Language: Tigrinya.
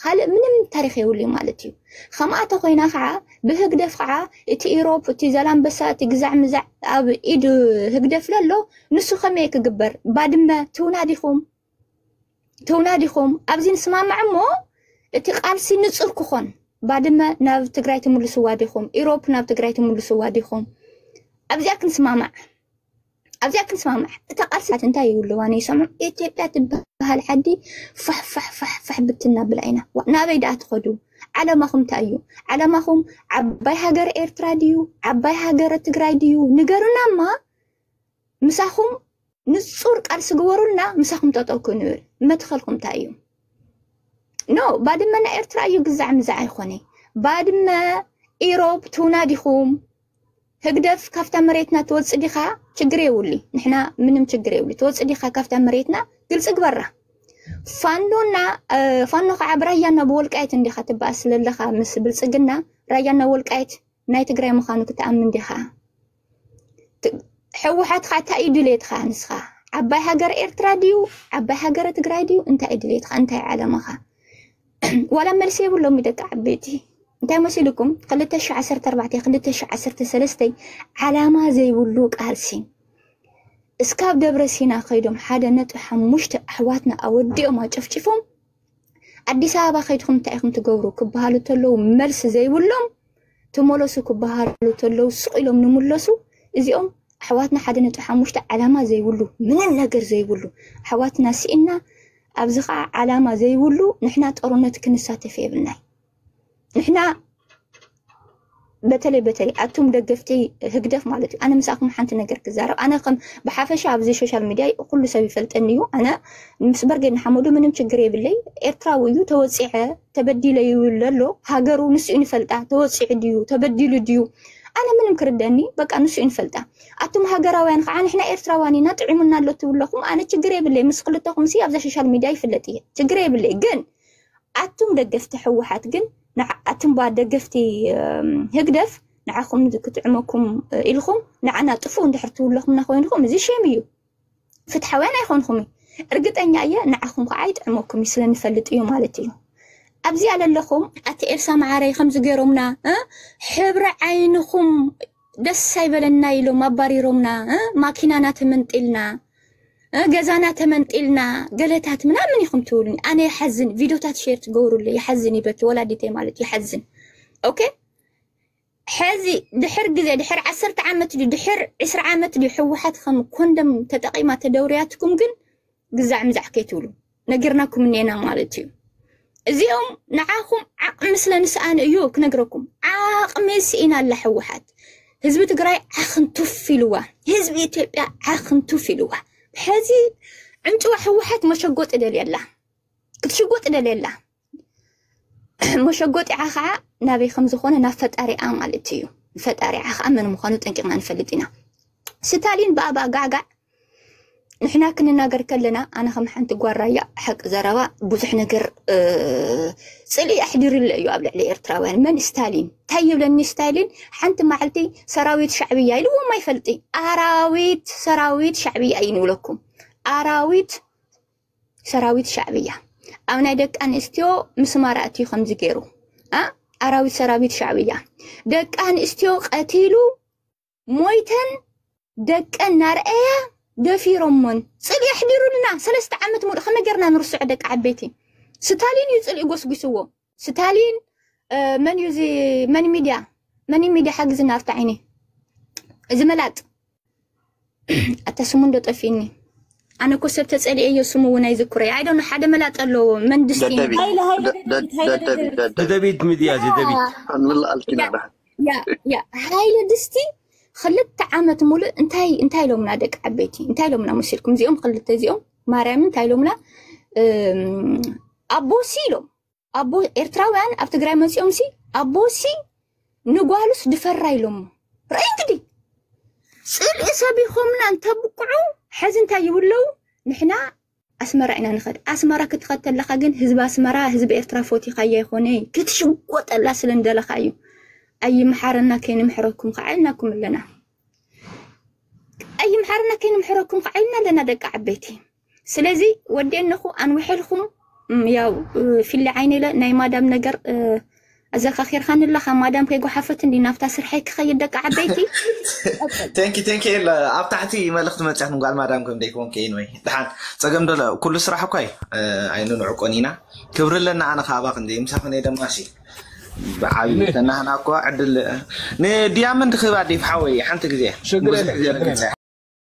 ኻልእ ምንም ታሪኽ የብሉይ ማለት እዩ። ኸምኣ ተኾይና ኸዓ ብህግደፍ ኸዓ እቲ ኢሮፕ እቲ ዘላምበሳ እቲ ግዛዕ ምዛዕ ኣብ ኢድ ህግደፍ ለሎ ንሱ ከመይ ክግበር ባድመ ትውና ዲኹም ትውና ዲኹም ኣብዚ ንስማማዕ እሞ እቲ ቃልሲ ንጹር ክኾን ባድመ ናብ ትግራይ ትምልስዋ ዲኹም ኢሮፕ ናብ ትግራይ ትምልስዋ ዲኹም ኣብዚኣ ክንስማማዕ ኣብዚኣ ክንስማማዕ እታ ቃልስታት እንታይ ይብልዋ ነይሰምዑ ኢትዮጵያ ትበሃል ዓዲ ፋሕፋሕፋሕፋሕ ብትና ብላ ኢና ናበይ ደኣ ትኸዱ ዓለማኹም እንታይ እዩ ዓለማኹም ዓባይ ሃገር ኤርትራ ድዩ ዓባይ ሃገር ትግራይ ድዩ ንገሩና እማ ምሳኹም ንጹር ቃልሲ ግበሩልና ምሳኹም ጠጠው ክንብል መትኸልኩም እንታይ እዩ ኖ ባድመና ኤርትራ እዩ ግዛዕ ምዛዕ ኣይኮነ ባድመ ኢሮብ ትውና ዲኹም ህግደፍ ካብታ መሬትና ትወጽእ ዲኻ ችግር የብሉይ ንሕና ምንም ችግር የብሉይ ትወጽእ ዲኻ ካብታ መሬትና ግልጺ ግበራ ፋኖና ፋኖ ከዓ ብራያና ብወልቃየት እንዲኻ ትበኣስ ስለለኻ ምስ ብልፅግና ራያና ወልቃየት ናይ ትግራይ ምዃኑ ክትኣምን ዲኻ ሕወሓት ከዓ እንታይ እዩ ድሌትኻ ንስኻ ዓባይ ሃገር ኤርትራ ድዩ ዓባይ ሃገረ ትግራይ ድዩ እንታይ እዩ ድሌትኻ እንታይ ዓለምኻ ዋላ መልሲ የብሎሚ ደቂ ዓበይቲ እንታይ መሲልኩም 214 213 ዓላማ ዘይብሉ ቃልሲ እስካብ ደብረ ሲና ከይዶም ሓደ ነጥቢ ሓሙሽተ ኣሕዋትና ኣወዲኦም ኣጨፍጭፎም ኣዲስ ኣበባ ከይድኩም እንታይ ኢኹም ትገብሩ ክበሃሉ ተለዉ መልሲ ዘይብሎም ተመለሱ ክበሃሉ ተለው ስቕ ኢሎም ንምለሱ እዚኦም ኣሕዋትና ሓደ ነጥቢ ሓሙሽተ ዓላማ ዘይብሉ ምንም ነገር ዘይብሉ ኣሕዋትና ስኢና ኣብዚ ከዓ ዓላማ ዘይብሉ ንሕና ጦርነት ክንሳተፍ የብልናይ ንሕና በተለይ በተለይ ኣቱም ደገፍቲ ህግደፍ ማለት እዩ ኣነ ምሳኹም ሓንቲ ነገር ክዛረብ ኣነ ከም ብሓፈሻ ኣብዚ ሶሻል ሚድያ ኩሉ ሰብ ይፈልጠኒ እዩ ኣነ ምስ በርጌድ ንሓመዱ ምንም ችግር የብለይ ኤርትራዊ እዩ ተወፂዐ ተበዲለ ይብል ኣሎ ሃገሩ ንስኡ ንፈልጣ ተወፂዑ ድዩ ተበዲሉ ድዩ ኣነ ምንም ክርደኒ በቃ ንሱ ንፈልጣ ኣቱም ሃገራውያን ከዓ ንሕና ኤርትራውያን ኢና ጥዒሙና ኣሎ ትብለኹም ኣነ ችግር የብለይ ምስ ክልተኹም ሲ ኣብዛ ሶሻል ሚድያ ይፍለጥ እየ ችግር የብለይ ግን ኣቱም ደገፍቲ ሕወሓት ግን ኣቱም ባ ደገፍቲ ህግደፍ ንዓኹም ክትዕመኩም ኢልኹም ንዓና ጥፉእ እንድሕር ትብለኹምና ኮይንኹም እዚ ሸም እዩ ፍትሓውያን ኣይኮንኹምን እርግጠኛ እየ ንዓኹም ከዓ ኣይጥዕመኩም እዩ ስለንፈልጥ እዩ ማለት እዩ ኣብዚኣ ለለኹም ኣቲ ኤልሳ መዓረይ ከምዚ ገይሮምና ሕብሪ ዓይንኹም ደስ ኣይበለና ኢሎም ኣባሪሮምና ማኪናና ተመንጢልና ገዛና ተመንጢልና ገለታት ምናምን ኢኹም ትብሉኒ ኣነ ይሓዝን ቪድዮታት ሼር ትገብሩለይ ይሓዝን ይበኪ ወላዲተይ ማለት ይሓዝን ኦኬ ሐዚ ድሕር ግዜ ድሕር ዓሰርተ ዓመት ድዩ ድሕር ዕስራ ዓመት ድዩ ሕወሓት ከም ኮንደም ተጠቂማ ተደውርያትኩም ግን ግዛዕ ምዛዕ ከይትብሉ ነጊርናኩም እኔና ማለት እዩ። እዚኦም ንዓኹም ዓቕሚ ስለ ንስኣኑ እዩ ክነግረኩም። ዓቕሚ ስኢና ኣላ ሕወሓት። ህዝቢ ትግራይ ዓኽን ቱፍ ኢልዋ፣ ህዝቢ ኢትዮጵያ ዓኽን ቱፍ ኢልዋ። ሕዚ ዕንጭዋ ሕወሓት መሸጎጢ ደልየላ ክትሽጎጥ ደልየላ መሸጎጢዓ ከዓ ናበይ ከም ዝኾነ ናብ ፈጣሪኣ ማለት እዩ ፈጣሪዓ ከዓ መን ምዃኑ ጠንቂቕና ንፈልጥ ኢና ስታሊን ብኣባ ጋዕጋዕ ንሕና ክንናገር ከለና ኣነ ከም ሓንቲ ጓራያ ሓቂ ዘረባ ብዙሕ ነገር ፅልኢ ኣሕዲርለ እዩ ኣብ ልዕሊ ኤርትራውያን መን ስታሊን እንታይ ይብለኒ ስታሊን ሓንቲ መዓልቲ ሰራዊት ሻዕብያ ኢልዎም ኣይፈልጥ ኣራዊት ሰራዊት ሻዕብያ እዩ ንብለኩም ኣራዊት ሰራዊት ሻዕብያ ኣብ ናይ ደቂ ኣንስትዮ ምስማር ኣትዩ ከምዚ ገይሩ ኣራዊት ሰራዊት ሻዕብያ ደቂ ኣንስትዮ ቀቲሉ ሞይተን ደቀን ናርአያ ደፊሮሞን ፅልኢ ኣሕዲሩልና ሰለስተ ዓመት ሙሉእ ከመይ ጌርና ንርስዖ ደቂ ዓበይቲ ስታሊን እዩ ፅልኢ ጎስጒስዎ ስታሊን መን እዩ እዚ መን ሚድያ መን ሚድያ ሓግዝና ኣብቲ ዓይኒ እዚ መላጥ ኣታ ስሙ እንዶ ጠፊእኒ ኣነ እኮ ሰብ ተፀሊዐዮ ስሙ እውን ኣይዝክሮይ ኣይዶነ ሓደ መላጥ ኣለዎ መንድስቲ ደደቢት ሃይለ ሃይለ ደ- ደ- ደደቢት ሃይለ ደደቢት ደደቢት ደደቢት ደደቢት ሚድያ ደደቢት ንላ ኣልኪና ያ ዳሓን ያ ያ ሃይለ ድስቲ ክልተ ዓመት ሙሉእ እንታይ እንታይ ኢሎምና ደቂ ዓበይቲ እንታይ ኢሎምና መሲልኩም እዚኦም ክልተ እዚኦም ማርያም እንታይ ኢሎምና ኣቦሲ ኢሎም ኣቦ ኤርትራውያን ኣብ ትግራይ መፂኦም ሲ ኣቦሲ ንጓሉስ ድፈራ ኢሎሞ ርኢ እንግዲህ ፅልኢ ሰቢኾምና እንተብቅዑ ሕዚ እንታይ ይብለው ንሕና ኣስመራ ኢና ንኸድ ኣስመራ ክትኸድ ተለካ ግን ህዝቢ ኣስመራ ህዝቢ ኤርትራ ፎቲኻያ ይኾነ ክትሽጎጠላ ስለ እንደለካ እዩ ኣይምሓረና ከይንምሕረኩም ከዓ ኢልናኩም ኣለና ቀይም ሓርና ከይንምሕረኩም ከዓ ኢልና ኣለና ደቂ ዓበይቲ ስለዚ ወዴነኹ ኣንውሐልኩም ያው ፊሊ ዓይነ ኢለ ናይ ማዳም ነገር ኣዘካኺርካኒ ኣለካ ማዳም ከይጓሓፈት እንዲ ናብታ ስርሐይ ክኸይድ ደቂ ዓበይቲ ተንኪ ተንኪ ኤል ኣብ ታሕቲ መልእኽቲ መፅያት ንጓል ማዳም ከም ደይኮንከ ወይ ድሓን ፀገም ዶ ኩሉ ስራሕ እኳ እዩ ኣይንንዕቆን ኢና ክብሪ ኣለና ኣነ ካባኽ እንደ ምሳኽን እየ ደማሲ ብዓብዩ ከናህና እኳ ዕድል ንዲያመንድ ክህባ ዲፍ ሓወይ ሓንቲ ግዜ ሽግር ብዙሕ ግዜ ረጊፀ